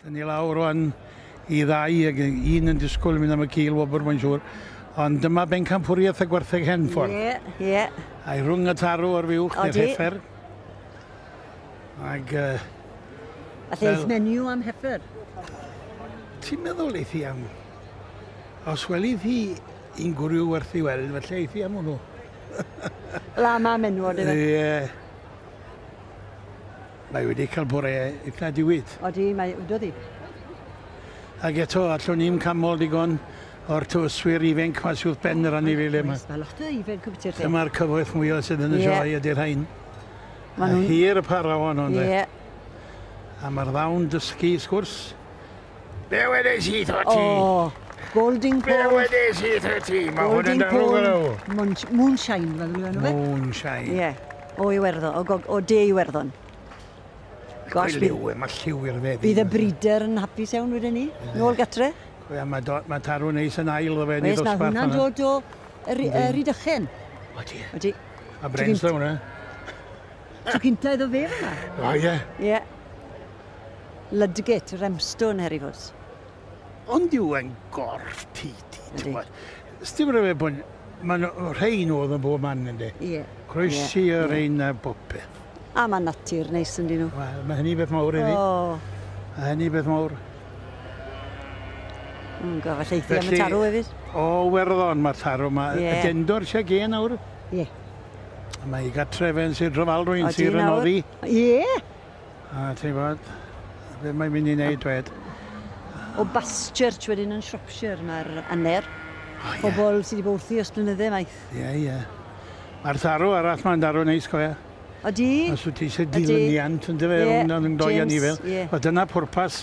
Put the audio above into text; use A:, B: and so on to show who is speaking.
A: Dyn ni lawr rwan i ddau ag un yn disgwyl mynd am y cil wobr mae'n siŵr. Ond dyma bencampwriaeth y gwertheg Henffordd. Ie, yeah, ie. Yeah.
B: A'i rhwng y
A: tarw ar fiwch neu'r heffer. Ac... Uh, A
B: lle eich menu am heffer?
A: Ti'n meddwl eith i am... Os weli thi i'n gwrw werth i weld, felly eith i am hwnnw.
B: Lama am enwod yfe? Ie.
A: Mae wedi cael bore eitha diwyd. Odi, mae wedodd hi. Ac eto, allwn ni'm canmol digon o'r tywyswyr ifenc mae sydd wrth ben yr anifeiliaid yma. Mae lot o ifenc yn byty'r
B: lle. Dyma'r cyfoeth mwyaf sydd
A: yn y sioe ydy'r rhain. Mae hir y para hon ond e. Ie. A mae'r ddawn dysgu sgwrs. Be wedes i tho ti? O, Golding
B: Pole. Be wedes i tho ti?
A: Mae hwn yn darw gydaw. Moonshine, fel
B: yw enw fe. Moonshine. Ie,
A: o
B: Iwerddon, o, gog, o De Iwerddon.
A: Gosh, bydd... Lliw, mae lliw i'r feddi. Bydd y brider yn
B: hapus iawn wedyn ni, nôl gatre. Ia, mae, do, mae
A: tarw neis yn ail o fe, nid os barth. Mae hwnna'n dod o
B: Rhydychen. O ti. O
A: ti. A brens da hwnna.
B: Tro cynta iddo fe fyna. O ie. Ie. Ludgate, Remstone, her i fod. Ond
A: yw e'n gorff ti, ti, ti'n gwybod. Sdim rhyfedd bod... Mae'n rhain oedd yn bob man, ynddi. Ie. Croesi
B: yeah. yr
A: ein a bob peth. A mae natur
B: neis yn dyn nhw. Wel, mae hynny beth mawr
A: iddi. Oh. Mae hynny beth mawr.
B: Mm, go, felly eithaf am y tarw hefyd. O, werddon,
A: mae'r tarw yma. Yeah. Y dendor eisiau gen awr. Ie. Yeah.
B: A mae ei
A: gatref yn Sir Drofal rwy'n sir yn oddi. Ie!
B: A
A: ti'n bod, be mae'n mynd i wneud dwed? O
B: Baschurch wedyn yn Shropshire mae'r aner. O, ie. Pobl sydd wedi bod wrthi os blynydde maith. Ie, ie.
A: Mae'r tharw arall mae'n darw neis go Odi. Os wyt
B: ti eisiau
A: dilyniant yn dy fe rhwng yn doi a ni fel. Wel dyna pwrpas